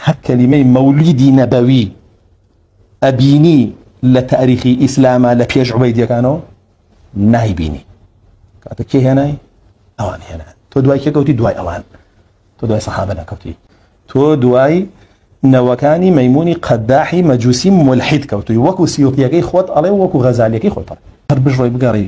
هەر کەلیمەی مەولیدی نەبەوی ئەبینی لە تاریخی ئیسلامە لە پێش عوبەیدەکانەوە نایبینی کاتە کێ هێنای ئەوان هێنان تۆ دوای کێکەوتی دوای ئەوان تۆ دوای سەحابە نەکەوتی تۆ دوای نەوەکانی مەمونی قەداحی مەجووسی ملحید کەوتوی وەکو سیوتیەکەی خۆت ئەڵێ وەکو غەزالیەکەی خۆتە هەر بژڕۆی بگەڕی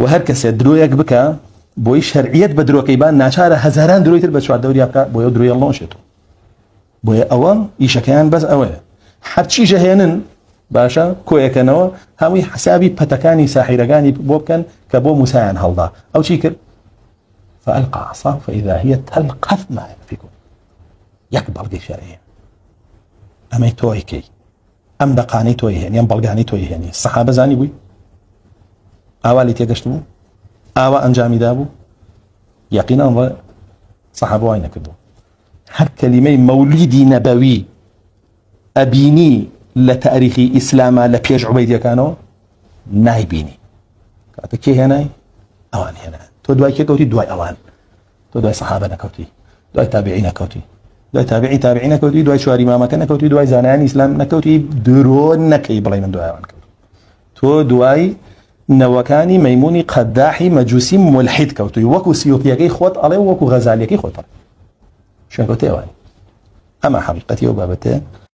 وە هەر کەسێ درۆیەک بکا بۆی شەرعیەت بە درۆکەی با ناچارە هەزاران درۆی تر بە چواردەوریا بکا بۆیە درۆی هەڵ نەوەشێتەوە بۆیە ئەوە ئیشەکەیان بەس ئەوەیە هەرچی ژەهێنن باشە کۆیەکەنەوە هەمووی حسابی پەتەکانی ساحیرەکانی بۆ بکەن کە بۆ موسایان هەڵدا ئەو چی کرد فألقى عصاه فإذا هي تلقف ما يأفكون یەک بەڵگەی شەرعیە ئەمەی تۆی کەی ئەم دەقانەی تۆی هێنی ئەم بەڵگانەی تۆی هێنی سەحابە زانی بووی ئاوا لی تێگەشت بوو ئاوا ئەنجامی دابوو یقینا ڕە سەحابە وای نەکردو هەر کەلیمەی مەولیدی نەبەوی ئەبینی لە تاریخی ئیسلامە لە پێش عوبەیدەکانەوە نایبینی کاتە کێ هێنای ئەوان هێنا تۆ دوای کێ کەوتی دوای ئەوان تۆ دوای سەحابە نەکەوتی دوای تابعی نەکەوتی دوای تابعی تابعی نەکەوتی دوای چواری مامەکە نەکەوتی دوای زانانی ئیسلام نەکەوتی درۆ نەکەی بڵێ من دوایان کەوت تۆ دوای نەوەکانی مەمونی قەداحی مەجووسی ملحید کەوتوی وەکو سیۆپیەکەی خۆت ئەڵێ وەکو غەزالەکەی خۆتە شوێنکەوتێوان ئەمە حەقیقەتی ئەو بابەتێ